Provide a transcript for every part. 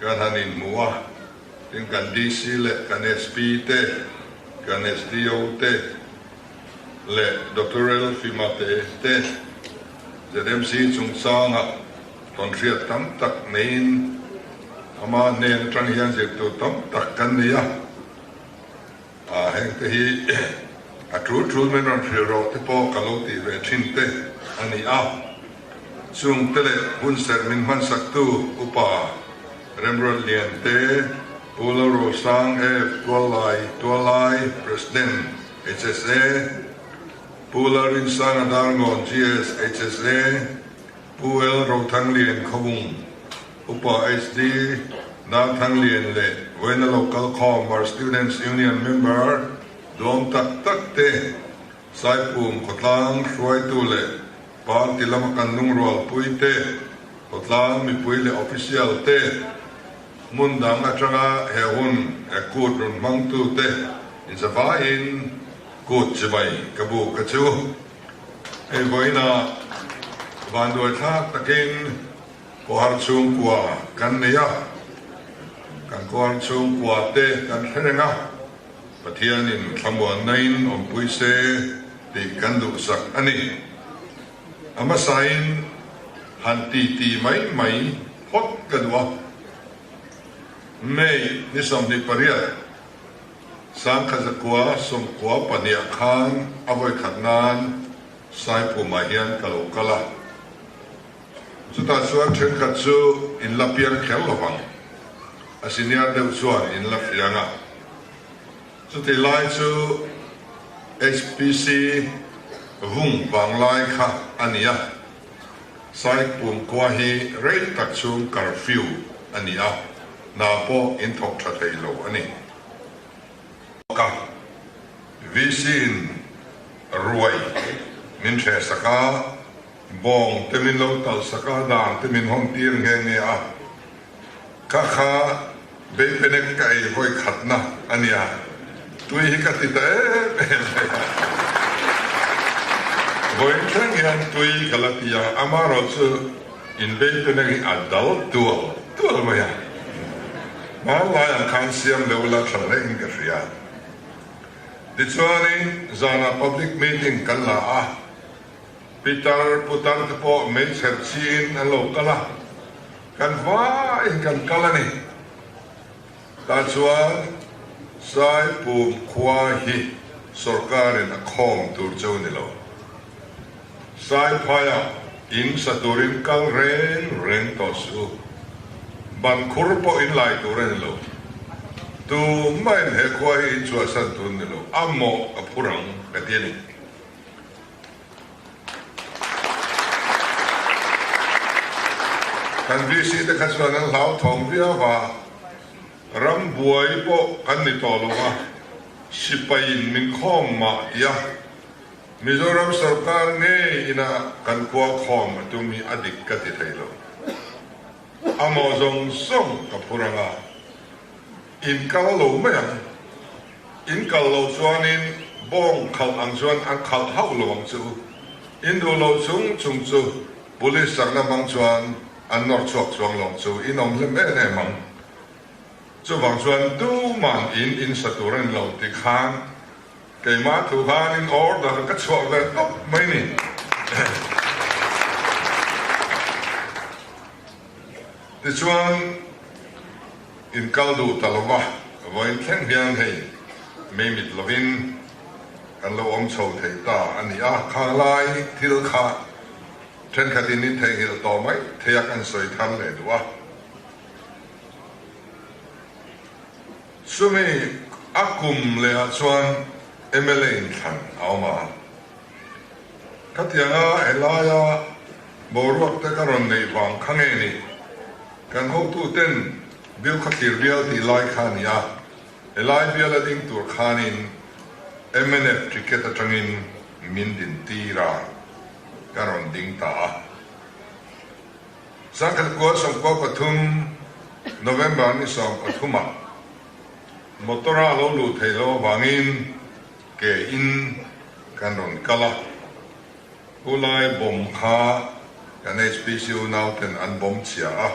Kan han inhmu a, tin kan DC leh kan SP te, kan SDO te leh Doctoral fimate te ZMC chungchanga rawn hriat tam tak neiin ama nen atang hian zirtir tam tak kan nei a. A hengte hi a tul tul men rawn hrilh rawh te pawh ka lo tih ve thin te a ni a, chung te leh hun serh min hmansak tu upa Remruat Lian te, Pu Lo Ro Sang F, Tual Lai Tual Lai, President, HSA, Pu Lal Rin Sang Adalngawn GS, HSA, Pu L Ro Thang Lian Khawung, Upa HT Nan Thanglian leh Vaina Lo Kalkhawmar Students Union member duang tak tak te, Saipum khawtlang hruaitu leh party lama kan lungrualpui te, khawtlang mipui leh official te, hmun dang atanga he hun he kut rawn hmangtu te insa vaiin kut chi mai ka bu ka chu. Hei vaina vanduaithlak takin. Kuar chhungkua kan nei a, kan kuar chhungkua te kan thleng a, Pathianin thlamuanain awmpui se tih kan duhsak a ni. A hmasain han titi mai mai phawt ka duh a. May ni sawmhnih pariat, Sangkhat zakua sawmkua pahniha khan a vawi khat nan Saiphumah hian ka lo kal a. Chutah chuan thenkhat chu in la piang kher lo vang. A senior deuh chuan in la fiang a. Chuti lai chu HPC vung vang lai kha a ni a. Site pumkhua hi rei tak chhung kar fiu a ni a, hna pawh in thawk tha thei lo a ni. Ka VC in ruai min hreh sak a. Bawng te min lo talsak a, dang te min hawn tir nghe nghe a. Ka kha Beipenek ka ei hawi khatna a nia, tui hi ka ti ta em em mai a. Vawiin thleng hian tui ka la ti a, ama erawh chu in Beipenek hi a dal dual dual mai a. Hmanlai ang khan siam deuh la thla reng in ka hria. Tichuanin zanah public meeting kan la a, Pitar, putar te pawh meichher chin an lo kal a, kan hmain kan kal a ni. Tah chuan Saipum khua hi sorkarin a khawm tur cheu ni lo. Saiphaya in sa turin kal reng reng tawh si u. Ban khur pawh in lai tur a ni lo. Tu main he khua hi in chhuahsan tur ni lo. A mawh ka phurang ka ti a ni. Kan VC te kha chuan an hlau thawng viau a, ram buai pawh kan ni tawh lo a, sipai in min khawm mah tia Mizoram sawrkar ngei inah kan kual khawm a tum hi a dik ka ti thei lo. Amaw zawng zawng ka phur ang a, inkal lo mai ang. In kal lo chuanin bawng khalh ang chuan an khalh hauh lo ang chu. In duh lo chung chung chu Police sakna hmang chuan an nawr chhuak chuang lo ang chu. In awm hlem em em ang. Chuvang chuan duhman in in sa tur a ni lo tih khan keimah thu khan in order ka chhuah ve tawp mai ni. Tichuan. In kal duh ta lova, vawiin thleng hian hei mei mit lovin kan lo awm chho thei ta a ni a, khanglai thil kha thenkhatin in theihngilh tawh maithei a kan sawi thar leh duh a. Chumi a kum lehah chuan mla inthlan a awm a, khatianga helaia. Boruak te ka rawn neih vang kha nge ni? Kan hotu ten bil khaw thlir vial tih lai kha a ni a, helai vial a ding tur khanin mnf ticket atangin min din tir a, ka rawn ding ta a. Sangkhat kua sawmkua pathum November ni sawm pathumah motor a lo luh theih loh avangin ke in kan rawn kal a. Khulai bawm kha kan HPC unau ten an bawm chhia a,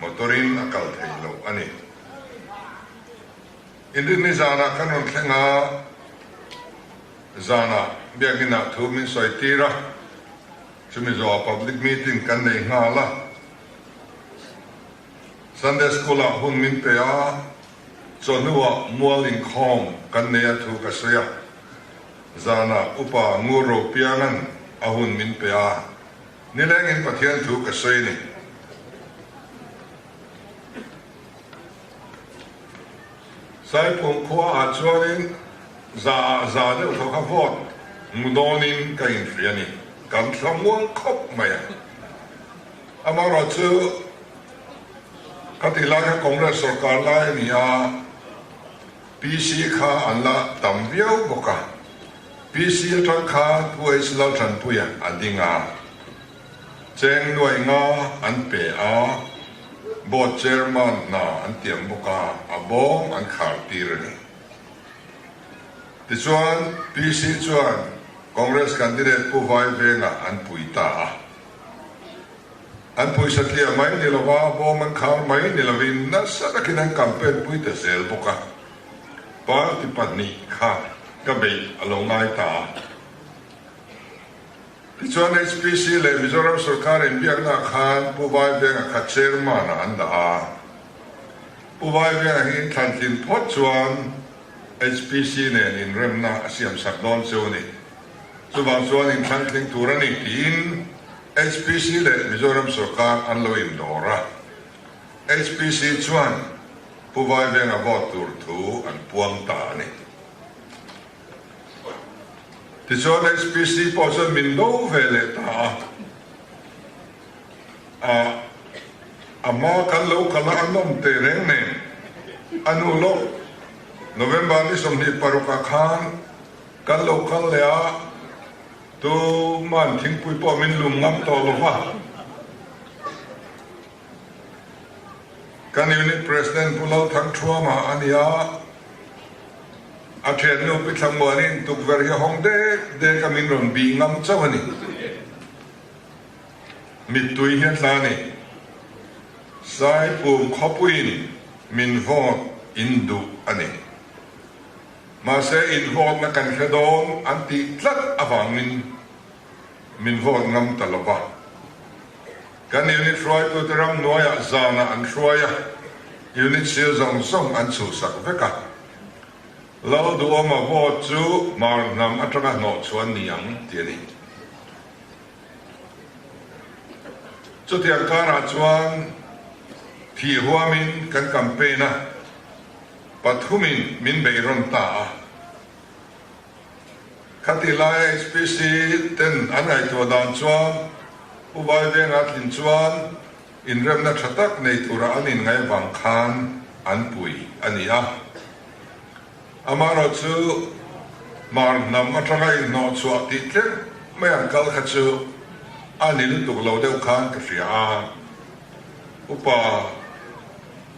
motor in a kal thei loh a ni. Inrit ni zan ah kan rawn thleng a, zan ah biakinn ah thu min sawi tir a, chumi zawh ah public meeting kan nei nghal a, Sunday school ah hun min pe a, chawhnu ah mual inkhawm kan nei a thu ka sawi a. Zana upa ngur ro pianga'n a hun min pe a, nilengin Pathian thu ka sawi a ni. Saiphum khua ah chuanin za ah za deuh thaw kha vawt hmu dawn in ka in hria a ni. Kan thla muang khawp mai a. Amaherawh chu ka ti lai kha Congress sawrkar lai a ni a. PC kha an la tam viau bawk a, PC atang kha Puais Lalthanpuia a ding a, cheng nuai nga an pe a, board chairman hna an tiam bawk a, a bawng an khar tir a ni. Tichuan PC chuan Congress candidate Pu Vai vengah an pui ta a, An puisa tliah mai ni lo a, bawm an khar mai ni loin nasa takin an campaign pui ta zel bawk a. Party pahnih kha ka beih a lo ngai ta a. Tichuan HPC leh Mizoram sorkar inbiakna khan Pu Vaivenga kha chairman ah an dah a. Pu Vaivenga hi inthlan tlin phawt chuan HPC nen inremna a siamsak dawn che u ni. Chuvang chuan inthlan tling tur a ni tiin HPC leh Mizoram sorkar an lo in dawr a, HPC chuan Pu Vai Veng a vote tur thu an puang ta a ni. Tichuan HPC pawh chuan min do ve leh ta a, ah a hma kan lo kal a, an awm teh reng nen a nu lawk November ni sawmhnih paruk ah khan kan lo kal leh a, Tu man thingpui pawh min lum ngam tawh lo va. Kan unit president Pu Lo Thang Thruama a ni a, a thiannu Pi Thla Muanin tukverh hi a hawng dek dek a min rawn bih ngam chauh a ni. Mittui hian hla a ni. Saipum khawpuiin min vote in duh a ni. Mahse inhlawtna kan hre dawn an tih tlat avangin min hlawt ngam ta lo va. Kan unit hruaitute ram hnuaiah zanah an hruai a, unit sir zawng zawng an chhuhsak vek a. Lo duhawma vote chu hmar hnam atanga hnawhchhuan ni ang ti a ni. Chutiang karah chuan thih huamin kan campaign a. Pathum in min bei rawn ta a. Ka ti lai a HPC ten an ngaihtuah dan chuan Pu Vai venga thin chuan inremna tha tak nei tura an in ngaih vang khan an pui a ni a. Amaherawh chu mar hnam atanga inhnawh chhuah tih tlerh mai ang kal kha chu a ni lutuk lo deuh khan ka hria a. Upa.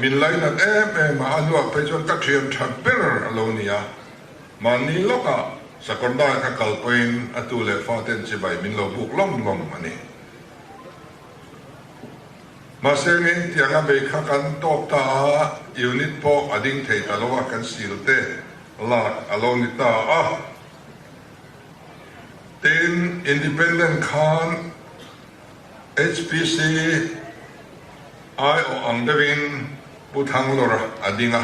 Min lainat em em a a luah phei chuan ka thian tha ber a lo ni a, mahni lawkah Sakawrndai ka kal pawhin a tu leh fa ten chibai min lo buk lawm lawm a ni. Mahse min tiang a bei kha kan tawp ta a, unit pawh a ding thei ta lo a, kan sil te lak a lo ni ta a. Tin, Independent khan. HPC aiawh ang deuhin Pu Thanglawra a ding a,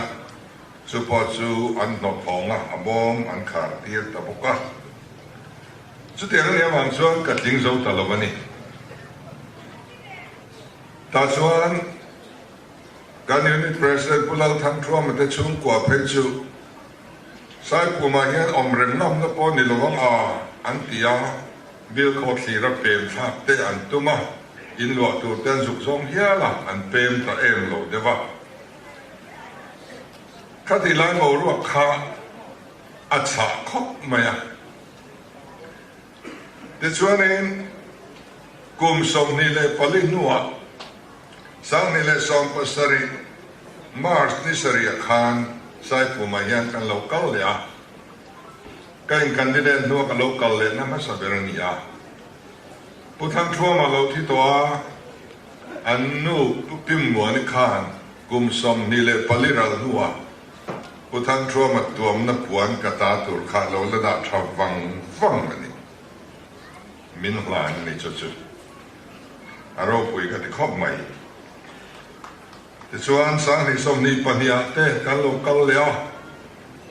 chu pawh chu an hnawhthawng a, a bawm an khar tir ta bawk a. Chutiang a ni avang chuan ka tling zo ta lo a ni. Tah chuan kan Unit President Pu Lal Thangthuama te chhungkua phei chu Saipumah hian awm reng lamna pawh ni lo ang a, an ti a. Bilkhawh thlira pemthlak te an tum a, in luah tur te an zuk zawng hial a, an pem ta em lo deuh a. Khati lai boruak kha a chah khawp mai a. Tichuanin kum sawmhnih leh pali hnuah sanghnih leh sawmkua sarih, March, ni sarih ah khan Saipuma hian kan lo kal leh a. Ka incandidate hnu a ka lo kal lehna hmasa ber a ni a. Pu Thlantluam a lo thi tawh a, an nu Pu Pim Muani khan kum sawmhnih leh pali ral hnuah Pu Thlantluama tuamna puan ka ta tur kha a lo la dah tha vang vang a ni. Min hlan a ni chu chu a ropui ka ti khawp mai. Tichuan, Sanghlihsawmhnih pahniah te kan lo kal leh a,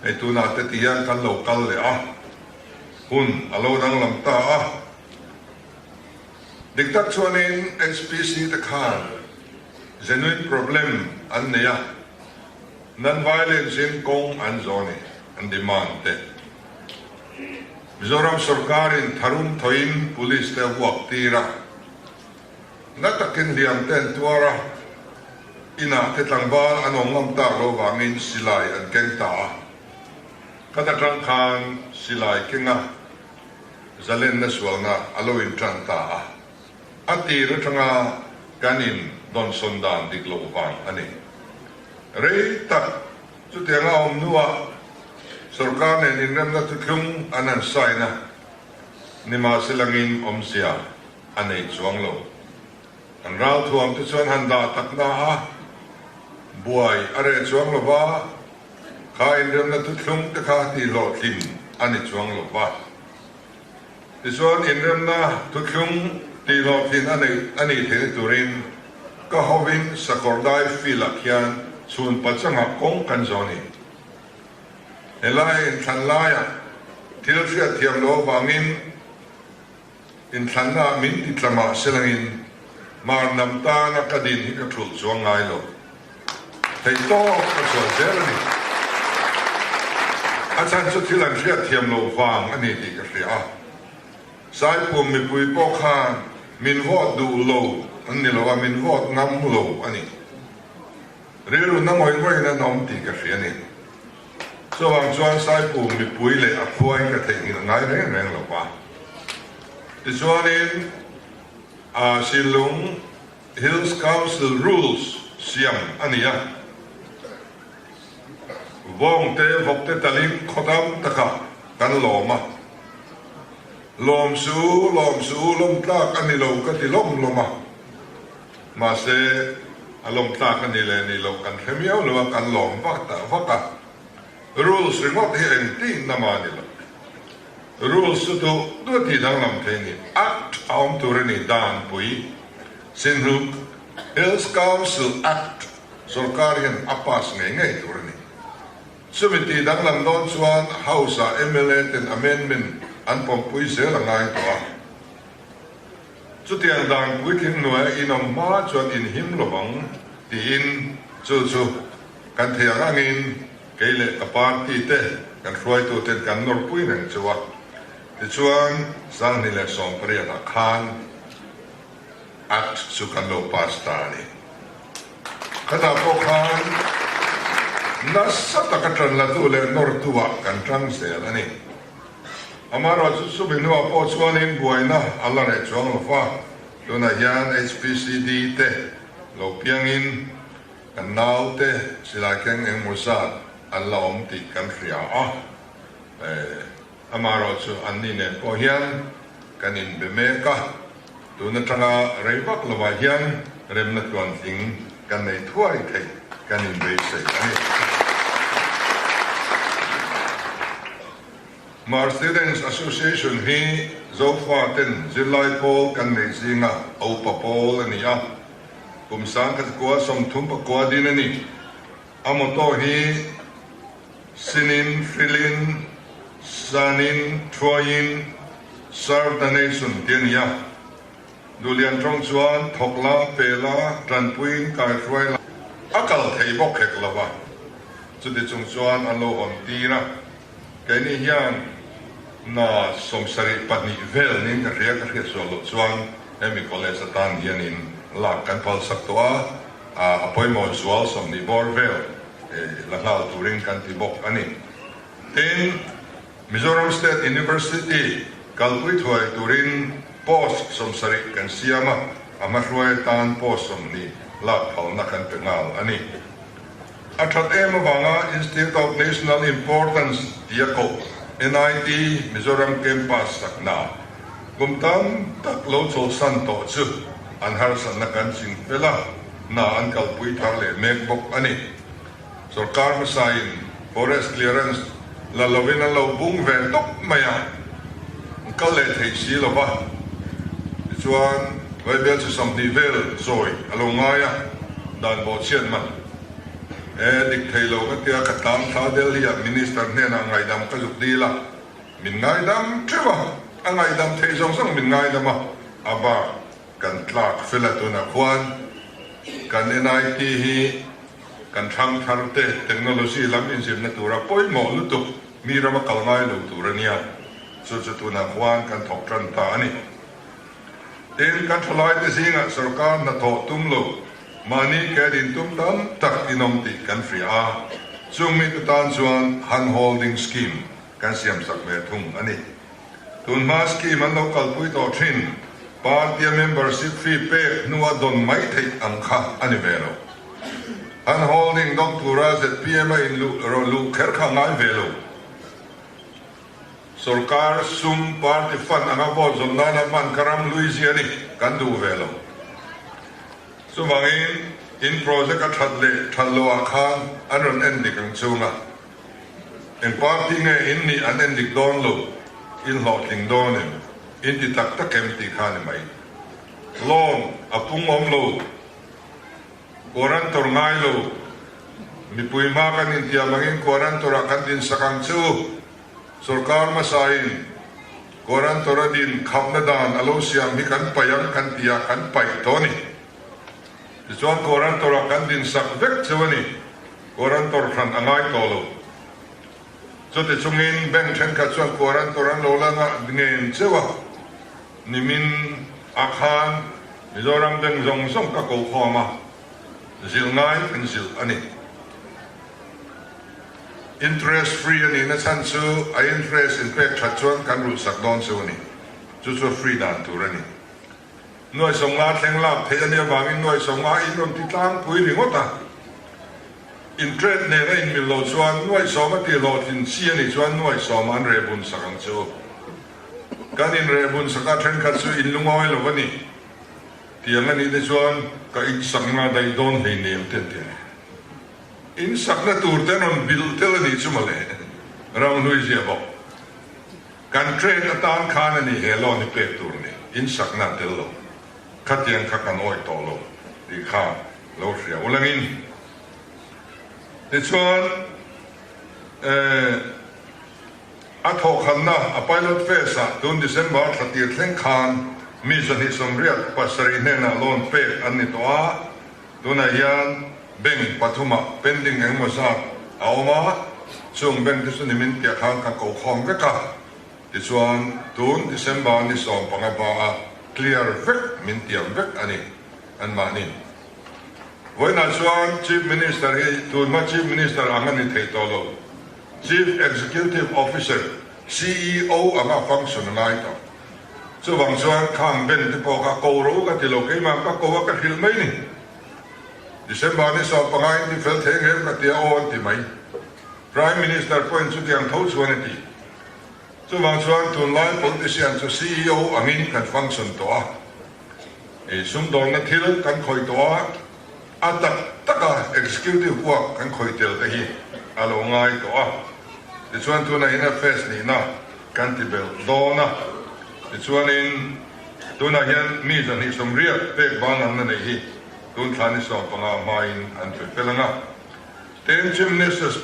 hei tunah te ti hian kan lo kal leh a, hun a lo danglam ta a. Dik tak chuanin HPC te khan genuine problem an nei a, non-violence in kawng an zawh a ni, an demand te hi. Mizoram sorkarin tharum thawihin police te a vuak tir a, Na takin hliam te an tuar a, inah te tlangval an awm ngam tak lo vangin silai an keng ta a. Ka da tang khan silai kenga zalenna sualna a lo in tan ta a, a tir atanga kan in dawnsawn dan dik loh vang a ni. Rei tak chutianga a awm hnuah sorkar nen inremna thu thlung an han sign a, nimahse langin awmzia. A nei chuang lo. Kan rau thuam te chuan han dah tak na a, buai a reh chuang lo va, kha inremna tutthlung te kha ti hlawh thin a ni chuang lo va. Tichuan inremna tutthlung ti hlawh thin a neih a nih theih turin ka hovin Sakawrdai Field ah khian chhun pachanga kawng kan zawh a ni. Helaiin thlan laiah thil hriat thiam lo avangin, Inthlanna min ti tla mahse langin marnam tana ka din hi ka ṭhulh chuang ngai lo. Thei tawk ka chhuah zel a ni. A chhan chu thil an hriat thiam lo vang a ni tih ka hria a. Saipum mipui pawh khan min vawt duh lo an ni lo a, min vawt ngam lo a ni. Rilru na ngawih ngawih in an awm tih ka hria a ni. Chuvang chuan Saipu mipui leh a khuain ka theih nghilh ngai reng reng lo va. Tichuanin ah Silung Hills Council rules siam a ni a, vawng te vawk te talin khaw dam taka kan lawm a, lawm su lawm su lawm tlak a ni lo ka ti lawm lawm a. Mahse, a lawm tlak a nih leh a nih loh kan hre miau lo a, kan lawm vak ta vak a. Rules ringawt hi engtihnna mah a ni lo. Rules chu chu duati danglam thei ni, Act, a awm tur a ni, danpui. Sinhu, Hills Council Act, sorkar hian a pass ngei ngei tur a ni. Chumi tih danglam dawn chuan House-a mla ten amendment an pawmpui zel a ngai tawh a. Chutiang dan puitling hnuaia in awm hma chuan in him lo ang tiin chu chu kan thei ang angin kei leh ka party te kan hruaitu ten kan nawr pui reng chu a. Tichuan Sanghni leh Sawmpariat ah khan Act chu kan lo pass ta a ni. Khatah pawh khan nasa taka tanlatu leh nawrtu ah kan tang zel a ni. Amaherawh chu Subinua pawh chuanin buaina a la reh chuang lo va, tunah hian HPCD te lo piangin kan naute silai keng engemaw zat an la awm tih kan hria a. Amaherawh chu anni nen pawh hian kan inbe mek a. Tun atanga rei vak lovah hian remna tluan tling kan nei thuai theih kan inbeisawi a ni. Khmer Students Association hi Zofaten zirlai pawl kan neih zinga aupa pawl a ni a. Kum sang kha te kual sawm thum pakua din a ni. A motor hi sinin, frilin, sanin, thuaiin, serve the nation tih a ni a. Duhlian tawng chuan thawk lam pel a, tanpuiin kaihruai lam a kal thei bawk hek lo va, chutichung chuan a lo hawn tir a. Keini hian hna sawm sarih pahnih velin ka hria ka hriat sual loh chuan hemi college atan hian in lak kan phal sak tawh a, a pawimawh zual sawm hnih bawr vel la nghal turin kan ti bawk a ni. Tin, Mizoram State University kalpui thuai turin post sawm sarih kan siam a, a hmahruai atan post sawm hnih lak phalna kan pe nghal a ni. A that em avanga Institute of National Importance tih a kawh, NIT, Mizoram Campus sakna kum tam tak lo chawlhsan tawh chu an harsatna kan ching fel a, hna an kalpui thar leh mek bawk a ni. Sorkar hmasain Forest Clearance, La lovin an lo bung ve tawp mai a, an kal leh thei si lo va. Tichuan, Bible chi sawmhnih vel zawi a lo ngai a, dan baw chian man. E, dik thei lo ka tia ka tlang thla Delhi-a Minister hnenah ngaihdam ka zuk dil a, min ngaidam ṭheuh a, a ngaidam thei zawng zawng min ngaidam a. A bar kan tlak flat hunah khuan kan NIT hi, Kan thang thar te technology lam inzirna tura pawimawh lutuk mi rama kal ngai lo tur ania, chu chu tunah khuan kan thawk tan ta a ni. Tin, kan thalai te zingah sorkar hnathawh tum lo mahni ke din tum tam tak inawm tih kan hria a, chungmite tan chuan han holding scheme, Kan siam sak leh thung a ni. Tun hmaa scheme an lo kalpui tawh thin, party-a membership fee pek hnu a dawn mai theih ang kha a ni ve lo. Han holding dawng tura ZPM-a inluh rawh luh kher kha ngai ve lo. Sorkar sum party fund anga vote zawm nana hman kha ram lui zia ni kan duh ve lo. Chuvangin in project-a that leh that loh ah khan an rawn en dik ang chung a. Eng party nge in nih an endik dawn lo, in hlawhtling dawn em, in ti tak tak em tih khan i mah i. Lawn a pung awm lo, quarantor ngai lo, mipui hma kan intiam angin quarantor ah kan dinsak ang che u. Sorkar hmasa in quarantor a din khapna dan a lo siam hi kan paih ang kan ti a, kan paih tawh a ni. Tichuan Quarantor ah kan din sak vek chu a ni. Quarantor hran a ngai tawh lo. Chuti chungin bank thenkhat chuan Quarantor an lo la ngah nghen cheu a. Nimin ah khan Mizoram bank zawng zawng ka kohhawm a, zilh ngai an zilh a ni. Interest free a nihna chhan chu a interest in pek that chuan kan rulhsak dawn chu a ni. Chu chu free dan tur a ni. Nuaisawng la thleng lak theih anih avangin nuaisawng a inrawnti tlangpui ringawt a, inṭet nen a inmil lo chuan nuaisawm a tihlawh thin chi anih chuan nuaisawm an reh bunsak ang chu. Kan inreh bunsak a ṭhenkhat chu inlungawi lo a ni tiang anih te chuan ka insakna daih dawn hlei nem te an ti a ni. Insakna tur te an rawn bilh tel anih chu mawle, ram hlui ziah bawk. Kan trade atan khan a nih leh lo ni pek tur ni in sakna a tel lo. Khatiang kha kan awih tawh lo tih kha lo hria uleng in tichuan eh a thawhkhanna a pilot phase ah tun December thla tir thleng khan mi zahnih sawmriat pasarih hnenah loan pek an ni tawh a, Tunah hian bank pathumah pending engemaw zat a awm a, chung bank te chu ni min piah khan ka koh khawm vek a, tichuan tun December ni sawm panga hmaa clear vek min tiam vek a ni. Anmahni vawiinah chuan Chief Minister hi tun hma Chief Minister ang a ni thei tawh lo, Chief Executive Officer, CEO, anga function a ngai ta. Chuvang chuan khang ben te pawh ka ko ro ka ti lo, keimah ka ko a ka hrilh mai ni. December ni sawm pangain tihfel thei reng ka ti a aw an ti mai. Prime Minister pawhin chutiang tho chuan a ti. Chuvang chuan tunlai politician chu CEO angin kan function tawh a, ih sumdawrna thil kan khawih tawh a, a tak taka executive buak kan khawih tel te hi a lo ngai tawh a, tichuan tuna in a face nihna. Kan ti belh dawn a, tichuanin tunah hian mi zahnih sawmriat pek bang ang na nei hi tun thla ni sawm panga hmain an thlir tel ang a. Tenchin Nest.